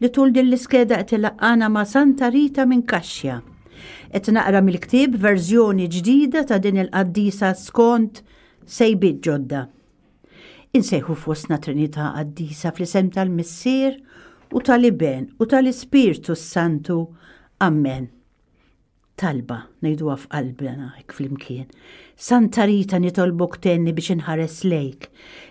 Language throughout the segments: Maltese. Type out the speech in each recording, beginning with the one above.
li tul din l-iskeda qed ilaqqana ma' Santa Rita minn Kaxja. Qed naqra mill-ktieb verżjoni ġdida ta' din il-qaddisa skont sejbiet ġodda. Insejħu fostna Trinità Qaddisa fl-isem tal-Missier u tal-Iben u tal-Ispirtu s-Santu. Amen. Talba, ngħiduha f'qalbna hekk flimkien. Santa Rita nitolbok tenni biex inħares lejk,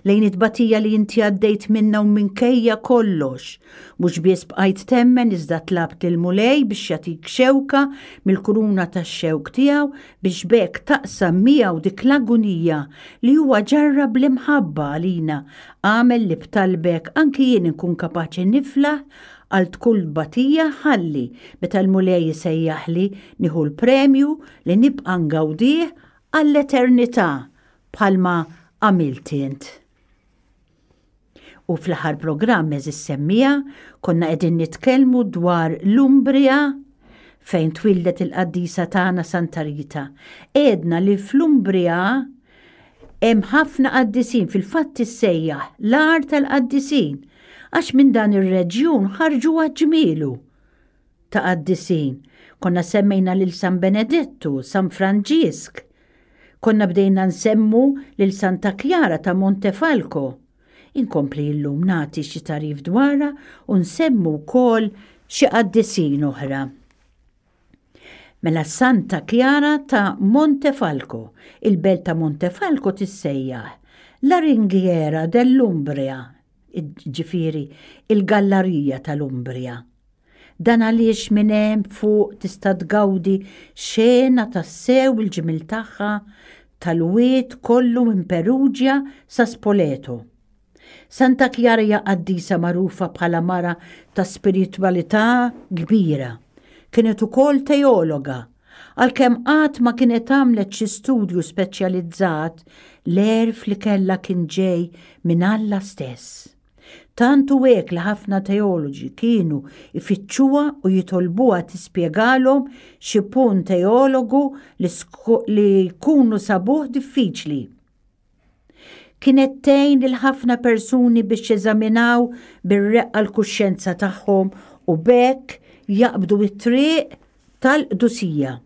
lejn it-tbatija li inti għaddejt minna u minkejja kollox. Mhux biss bqajt temmen iżda tlabt lil Mulej biex jagħtik xewka mill-kuruna tax-xewk tiegħu biex b'hekk taqsam miegħu dik l-agunija li huwa ġarrab bl-imħabba għalina għamel li b'talbek anki jien inkun kapaċi niflaħ Għalt kull tbatija ħalli, meta l-Mulej isejjaħli, nieħu l-premju li nibqa' ngawdih għall-eternità bħalma għamilt int. U fl-aħħar programm eżis semmija konna qegħdin nitkellmu dwar l-Umbria fejn twildet il-qaddisa tagħna Santa Rita. Edna li fl-Umbria Hemm ħafna qaddisin fil-fatt issejjaħ l-għar tal-qaddisin għax minn dan ir-reġjun ħarġu għaġmielu ta' qaddisin. Konna semmejna lil San Benedettu, San Franġisk, konna bdejna nsemmu lil Santa Kjara ta' Montefalco. Inkompli illum nagħti xi tarif dwarha u nsemmu wkoll xi qaddisin oħra. Mela Santa Klara ta' Montefalco, il-belt ta' Montefalco tissejjaħ La Ringhiera dell'Umbria, ġifieri il-gallarija tal-Umbria. Dan għaliex minn hemm fuq tista' tgawdi xena tassew il-ġmiel tagħha tal-wied kollu minn Perugia sa Spoleto. Santa Kjara hija qaddisa magħrufa bħala mara ta' spiritwalità kbira. Kienet ukoll teologa, għalkemm qatt ma kienet għamlet xi studju speċjalizzat, l-għerf li kellha kien ġej minn Alla stess. Tant hu hekk li ħafna teoloġi kienu jfittxuha u jitolbuha tispjegalhom xi punt teologu li jkunu sabuh diffiċli. Kienet tgħin lil ħafna persuni biex jeżaminaw bir-reqqa l-kuxjenza tagħhom u b'hekk jaqbdu t-triq tal-qdusija.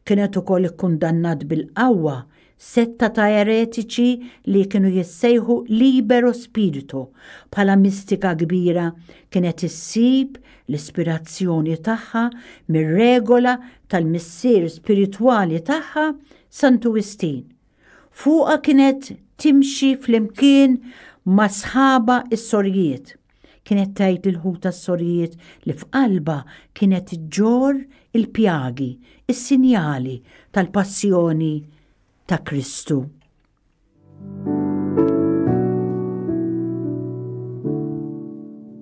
Kienet ukoll ikkundannat bil-qawwa setta ta' eretiċi li kienu jissejħu libero spirito. Bħala mistika kbira kienet issib l-ispirazzjoni tagħha mir-regola tal-missier spiritwali tagħha Santu Wistin. Fuqha kienet timxi flimkien ma' sħabha s-sorjiet. Kienet tgħid lil ħutha s-sorjiet li f'qalbha kienet ġġorr il-pjagi, is-sinjali tal-passjoni ta' Kristu.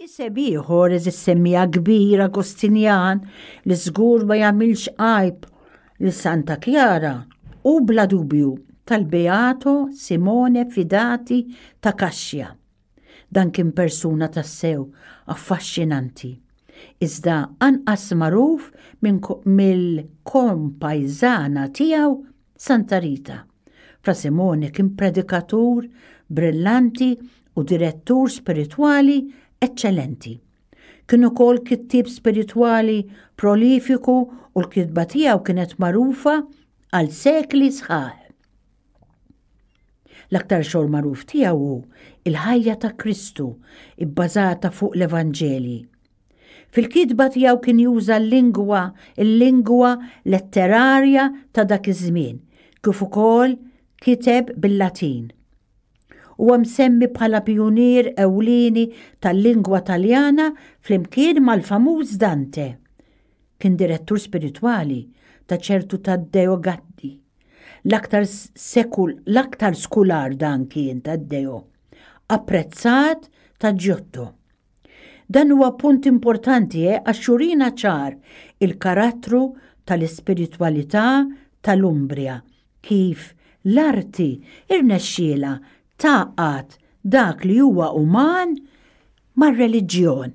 Iseb ieħor eżis semmija kbir Agostinjan li żgur ma jagħmilx għajb li Santa Kjara u bla dubju tal-Beato Simone Fidati ta' Kaxja. Dan kien persuna tassew affaxxinanti. Iżda anqas magħruf mill-kompajzana tiegħu Santa Rita. Fra Simone kien predikatur brillanti u direttur spiritwali eċċellenti. Kien ukoll kittieb spiritwali prolifiku u l-kitba tiegħu kienet magħrufa għal sekli sħaħ. L-aktar xogħol magħruf tiegħu hu il-ħajja ta' Kristu, ibbażata fuq l-Evanġelji. Fil-kitba tiegħu kien juża l-lingwa, il-lingwa letterarja ta' dak iż-żmien, kif ukoll kiteb bil-Latin. Huwa msemmi bħala pjunier ewlieni tal-lingwa Taljana flimkien mal-famuż Dante. Kien direttur spiritwali ta' ċertu Taddeo Gaddi. L-aktar sekul, l-aktar skular dan kien Taddeo, apprezzat ta' Giotto. Dan huwa punt importanti eh, għax jurina ċar il-karattru tal-ispiritwalità tal-Umbria, kif l-arti irnexxielha tgħaqqad dak li huwa uman mar-reliġjon.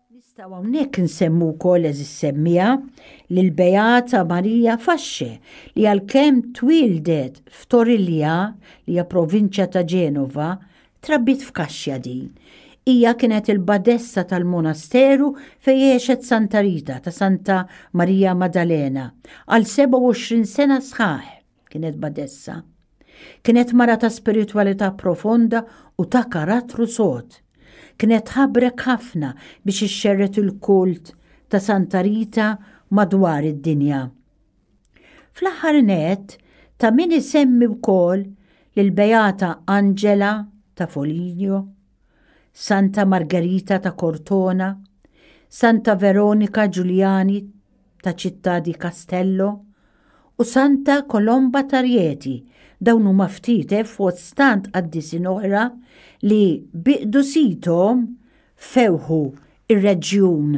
Nistgħu hawnhekk insemmu wkoll eżis semmiegħa lill-Beata Marija Fasce li għalkemm twieldet f'Torilja li hija provinċja ta' Ġenova, trabbiet f'kaxxa din. Hija kienet il-badessa tal-monasteru fejn għexet Santa Rita ta' Santa Marija Maddalena għal 27 sena sħaħ. kienet badessa. Kienet mara ta' spiritwalità profonda u ta' karattru sod. Kienet ħabrek ħafna biex ixxerret il-kult ta' Santa Rita madwar id-dinja. Fl-aħħar net, ta' min isemmi wkoll lil Beata Angela ta' Foligno, Santa Margherita ta' Cortona, Santa Veronika Ġuljani ta' Città di Castello u Santa Kolomba ta' Rieti dawn huma ftit eh, fost stant qaddisin oħra li bi qdusithom fewħu ir-reġjun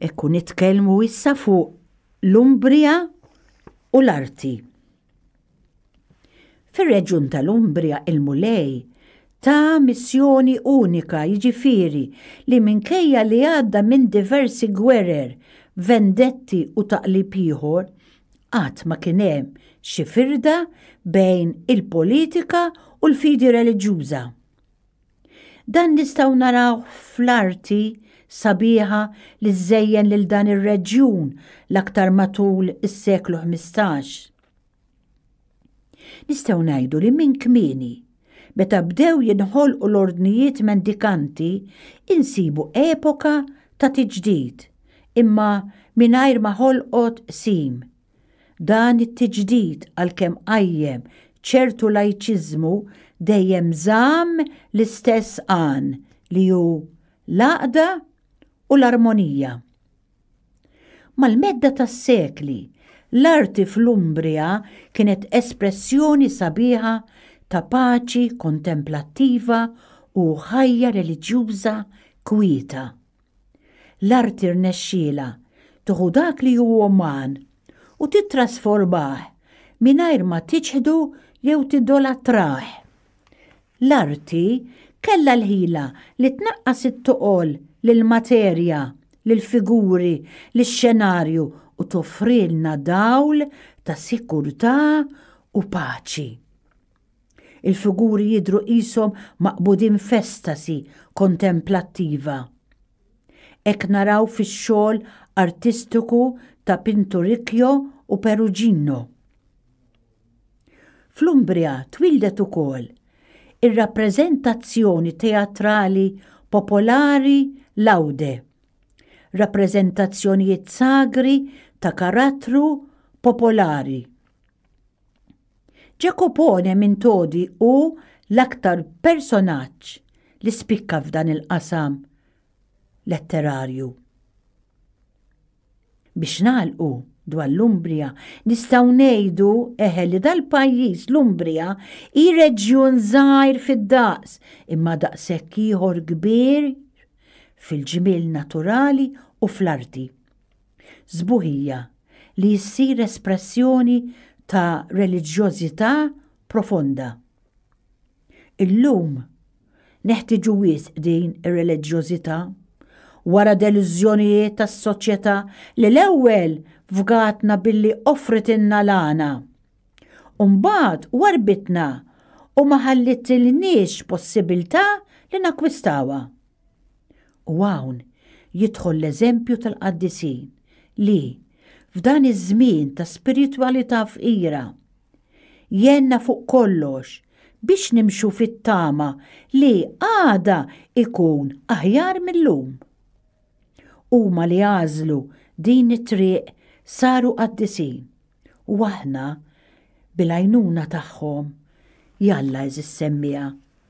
Ekku nitkellmu issa fuq l-Umbria u l-arti. Fir-reġjun tal-Umbria il-Mulej ta' missjoni unika jiġifieri li minkejja li għadda minn diversi gwerer, vendetti u taqlib ieħor, qatt ma kien hemm xi firda bejn il-politika u l-fidi reliġjuża. Dan nistgħu narawh fl-arti sabiħa li żżejjen lil dan ir-reġjun l-aktar matul is-seklu ħmistax. Nistgħu ngħidu li minn kmieni, meta bdew jinħolqu l-ordnijiet mendikanti, insibu epoka ta' tiġdid, imma mingħajr ma ħolqot qsim, Dan it-tiġdid għalkemm qajjem ċertu lajċiżmu dejjem żamm l-istess għan li hu l-għaqda u l-armonija. Mal-medda tas-sekli, l-arti fl-Umbria kienet espressjoni sabiħa ta' paċi kontemplattiva u ħajja reliġjuża kwieta. L-arti rnexxielha tuħu dak li hu uman u tittrasformah mingħajr ma tiċħdu jew tidolatrah. L-arti kellha l-ħila li tnaqqas it-toqol lill-materja, lill-figuri, lix-xenarju u toffrilna dawl ta' sikurtà u paċi. Il-figuri jidhru qishom maqbudin f'estasi kontemplattiva. Hekk naraw fix-xogħol artistiku ta' Pinturicchio u Perugino. Fl-Umbria twieldet ukoll ir-rappreżentazzjoni teatrali popolari Laude, rappreżentazzjonijiet sagri ta' karattru popolari. Ġakopone minn Todi hu l-aktar personaġġ li spikka f'dan il-qasam letterarju. Biex nagħlqu dwar l-Umbria, nistgħu ngħidu eħe li dal-pajjiż l-Umbria hi reġjun żgħir fid-daqs imma daqshekk ieħor kbir fil-ġmiel naturali u fl-arti. Sbuħija li ssir espressjoni ta' reliġjożità profonda. Illum neħtiġu wisq din ir-reliġjożità wara delużjonijiet tas-soċjetà li l-ewwel fgatna billi offritilna l-għana u mbagħad warbitna u ma ħallitilniex possibilità li nakkwistawha. U hawn jidħol l-eżempju tal-qaddisin li, f'dan iż-żmien ta' spiritwalità fqira, jgħinna fuq kollox biex nimxu fit-tama li għada jkun aħjar mil-lum. Huma li għażlu din it-triq saru qaddisin u aħna, bil-għajnuna tagħhom, jalla eżis semmiegħa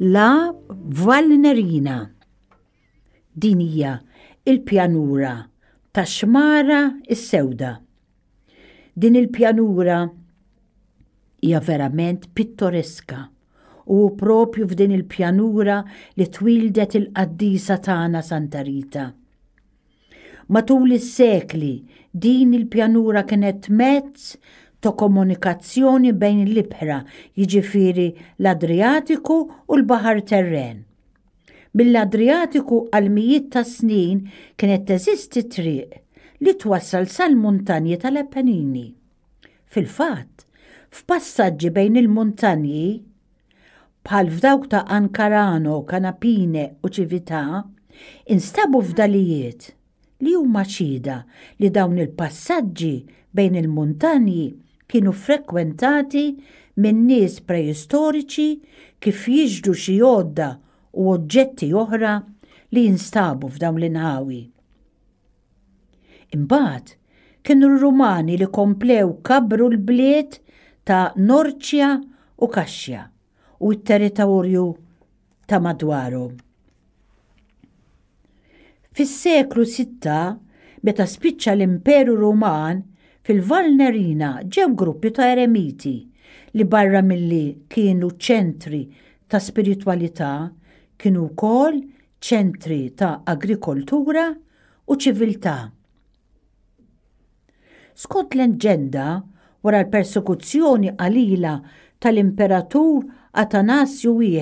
La Valnerina. Din hija il-pjanura ta' xmara is-sewda Din il-pjanura hija verament pittoreska u propju f'din il-pjanura li twildet il-qaddisa tagħna Santa Rita. Matul is-sekli din il-pjanura kienet mezz ta' komunikazzjoni bejn l-ibħra, jiġifieri l-Adriatiku u l-Baħar Terren. Mill-Adriatiku għal mijiet ta' snin kienet teżisti triq li twassal sal-muntanji tal-Appennini. Fil-fatt, f'passaġġi bejn il-muntanji, bħal f'dawk ta' Ancarano, Canapine u Cività, instabu fdalijiet. li huma xhieda li dawn il-passaġġi bejn il-muntanji kienu ffrekwentati minn nies preistoriċi kif jixhdu xi għodda u oġġetti oħra li jinstabu f'dawn l-inħawi. Imbagħad, kienu r-Rumani li komplew kabbru l-bliet ta' Norcia u Cascia. u t-territorju ta' madwaru. Fis-seklu 6, meta spiċċa l-Imperu Ruman, fil-Valnerina ġew gruppi ta' eremiti li barra milli kienu ċentri ta' spiritwalità kienu wkoll ċentri ta' agrikoltura u ċiviltà. Skont l-Ġenda, wara l-persekuzzjoni qalila tal-Imperatur Atanasju I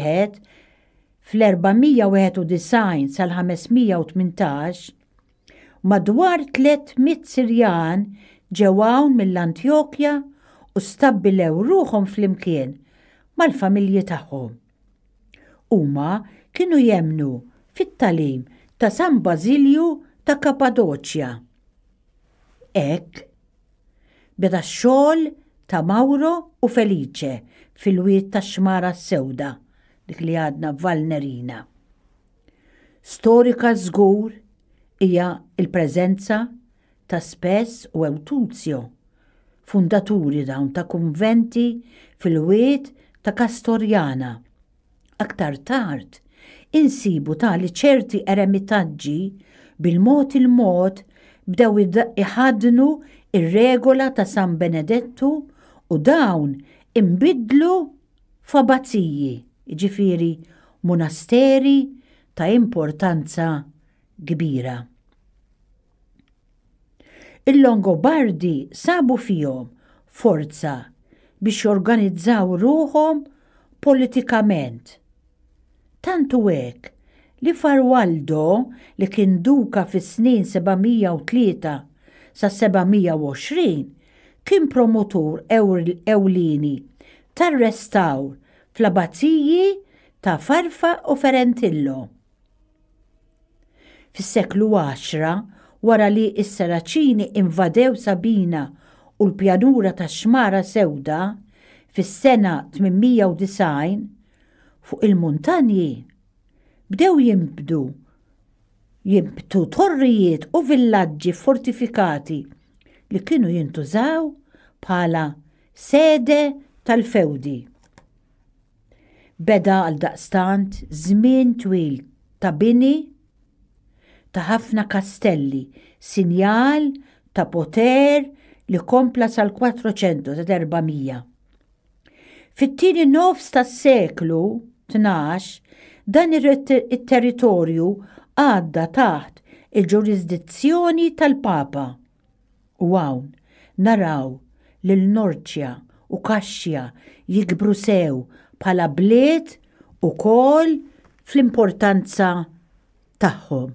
fl-491 sal-518, madwar 300 Sirjan ġew hawn mill-Antjokja u stabbilew ruħhom flimkien mal-familji tagħhom. Huma kienu jemmnu fit-talim ta' San Bażilju ta' Kapadoċja. Hekk beda x-xogħol ta' Mawro u Felice fil-wied tax-Xmara s-Sewda, dik li għadna Valnerina. Storika żgur hija l-preżenza ta' Spes u Eutunzio, fundaturi dawn ta' kunventi fil-wied ta' Castoriana. Aktar tard insibu ta' li ċerti eremitaġġi bil-mod il-mod bdew iħaddnu r-regola ta' San Benedettu u dawn inbidlu f'abbaziji, jiġifieri munasteri ta' importanza kbira. Il-Longobardi sabu fihom forza biex jorganizzaw ruħhom politikament. Tant hu hekk li Farwaldo li kien duka fis-snin 703 sa 720 kien promotur ewlieni tar-restawr fl-abaziji ta' Farfa u Ferentillo. Fis-seklu għaxra, wara li s-Saraċini invadew Sabina u l-pjanura tax-Xmara Sewda, fis-sena 890, fuq il-muntanji, bdew jinbdu jinbtu torrijiet u villaġġi fortifikati li kienu jintużaw bħala sede tal-fewdi. Beda għaldaqstant żmien twil ta' bini ta' ħafna kastelli, sinjal ta' poter li kompla sal-Quattrocento ta' 400. Fit-tieni nofs tas-seklu tnax, dan it-territorju għadda taħt il-ġurisdizzjoni tal-Papa, U hawn, naraw lil Norcia u Kaxxja jikbru sew bħala bliet ukoll fl-importanza tagħhom.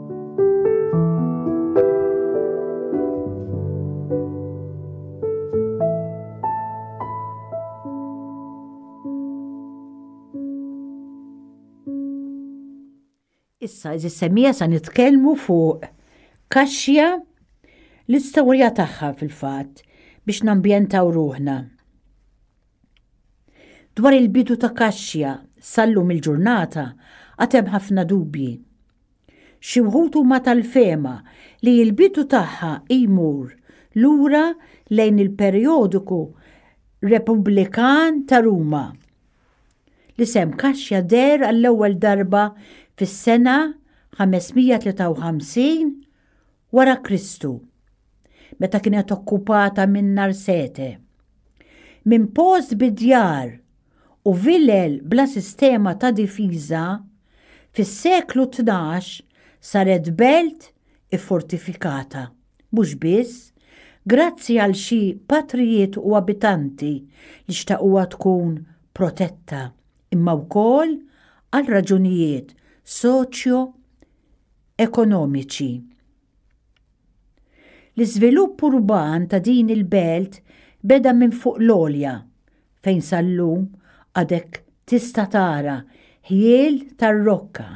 Issa, iżis semija sa nitkellmu fuq kaxja l-istorja tagħha fil-fatt biex nambjentaw ruħna. Dwar il-bidu ta' kaxja sallum il-ġurnata għatem ħafna dubji. Xi wħud huma tal-fehma li l-bidu tagħha jmur lura lejn il-perjodiku Repubblikan ta' Ruma. L-isem Kaxja deher għall-ewwel darba fis-sena 553 Wara Kristu, meta kienet okkupata minn Narsete, minn post bi djar u vilel bla sistema ta' difiża, fis-seklu tnax saret belt iffortifikata, mhux biss grazzi għal xi patrijiet u abitanti li xtaquha tkun protetta, imma wkoll għal raġunijiet soċjo ekonomiċi. L-iżvilupp urban ta' din il-belt beda minn fuq l-għolja, fejn sal-lum għadek tista' tara ħjiel tar-rokka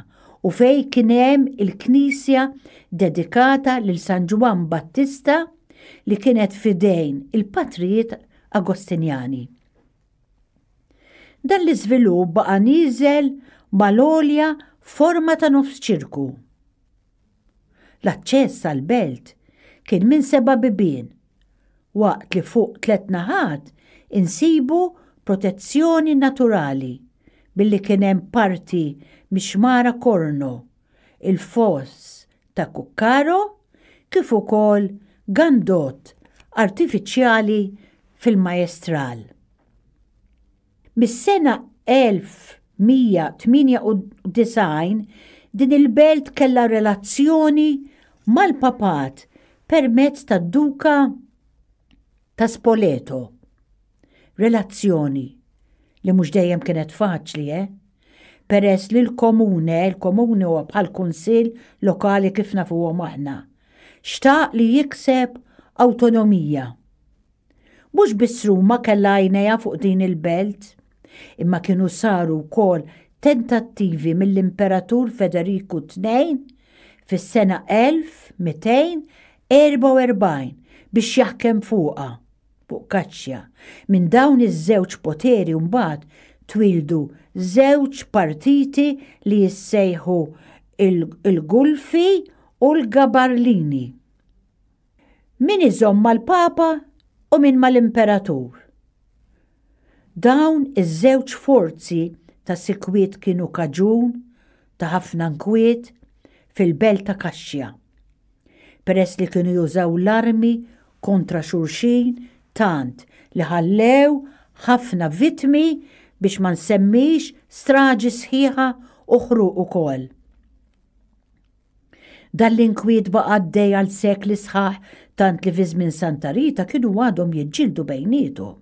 u fejn kien hemm il-knisja dedikata lil San Ġwann Battista li kienet f'idejn il-patrijiet Agostinjani. Dan l-iżvilupp baqa' nieżel mal-għolja forma ta' nofs ċirku. L-aċċess għall-belt kien minn seba' bibien, waqt li fuq tliet naħat insibu protezzjoni naturali billi kien hemm parti mixmara korno il-Falls ta' Cuccaro kif ukoll gandot artifiċjali fil-Majestral. Mis-sena 1198 din il-belt kellha relazzjoni mal-Papat permezz tad-Duka ta' Spoleto. Relazzjoni li mhux dejjem kienet faċli, eh? Peress li l-komune, il-komune huwa bħal kunsill lokali kif nafuhom aħna, xtaq li jikseb awtonomija. Mhux biss Ruma kellha għajnejha fuq din il-belt, imma kienu saru wkoll tentattivi mill-Imperatur Federiku ii fis-sena 1244 biex jaħkem fuqha. fuq kaċċja. Minn dawn iż-żewġ poteri mbagħad twieldu żewġ partiti li jissejħu l-Gulfi u l-Gabarlini. Min iżomm mal-Papa u min mal-Imperatur. Dawn iż-żewġ forzi ta' sikwit kienu kaġun ta' ħafna nkwiet fil-belt ta' Kaċċja. peress li kienu jużaw l-armi kontra xulxin tant li ħallew ħafna vittmi biex ma nsemmix straġi sħiħa u ħruq ukoll. Dan l-inkwiet baqa' għaddej għal sekli sħaħ tant li fi żmien Santa Rita kienu għadhom jiġġieldu bejniethom.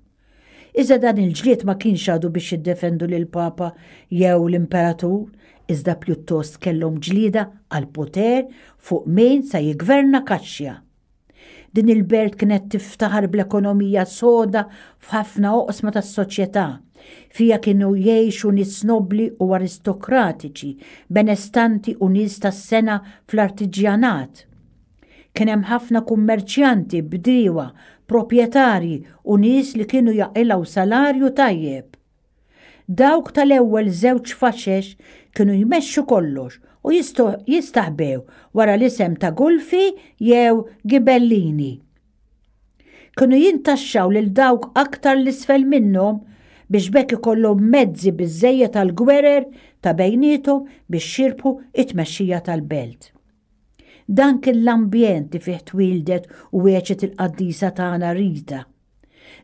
Iżda dan il-ġlied ma kienx għadu biex jiddefendu lill-Papa jew l-Imperatur, iżda pjuttost kellhom ġlieda għall-poter fuq min se jiggverna Kaxxja. Din il-belt kienet tiftaħar bl-ekonomija soda f'ħafna oqsma tas-soċjetà. Fija kienu jgħixu nies nobbli u aristokratiċi, benestanti u nies tas-sena fl-artiġjanat. Kien hemm ħafna kummerċjanti, bdiewa, proprjetarji u nies li kienu jaqilgħu salarju tajjeb. Dawk tal-ewwel żewġ faxex kienu jmexxu kollox u jistaħbew wara l-isem ta' Gulfi jew Ghibellini. Kienu jintaxxaw lil dawk aktar 'l isfel minnhom biex b'hekk ikollhom mezzi biżżejjed għall-gwerer ta' bejniethom biex jirbħu t-tmexxija tal-belt. Dan kien l-ambjent li fih twieldet u għexet il-qaddisa tagħna Rita.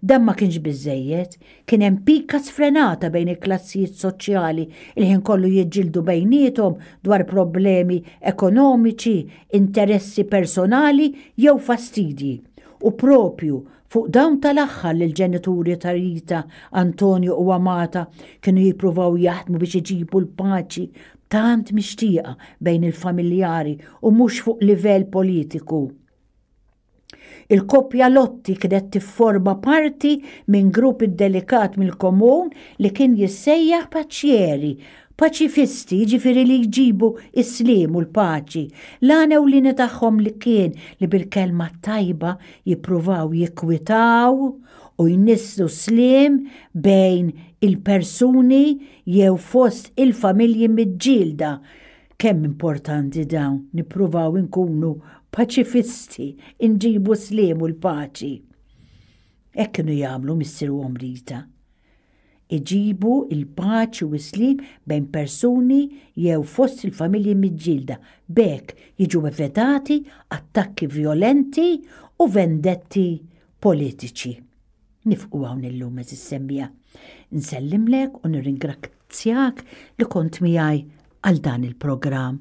Dan ma kienx biżżejjed, kien hemm pika sfrenata bejn il-klassijiet soċjali, il-ħin kollu jiġġieldu bejniethom dwar problemi ekonomiċi, interessi personali jew fastidji, u proprju Fuq dawn tal-aħħar li l-ġenituri ta' Rita, Antonio u Amata kienu jippruvaw jaħdmu biex iġibu l-paċi tant mixtieqa bejn il-familjari u mhux fuq livell politiku. Il-koppja Lotti kienet tifforma parti minn grupp iddelikat mill-komun li kien jissejjaħ paċieri Paċifisti, jiġifieri li jġibu s-sliem u l-paċi, l-għan ewlieni tagħhom li kien li bil-kelma t-tajba jippruvaw jikkwitaw u jnisslu s-sliem bejn il-persuni jew fost il-familji miġġielda. Kemm importanti dawn, nippruvaw inkunu paċifisti, inġibu s-sliem u l-paċi. Hekk kienu jagħmlu missier u omm Rita. iġibu l-paċi u s-sliem bejn persuni jew fost il-familji miġġielda, b'hekk jiġu evitati attakki vjolenti u vendetti politiċi. Nifqu hawn illum, għeżież semmiegħa. Nsellimlek u nirringrazzjak li kont miegħi għal dan il-programm.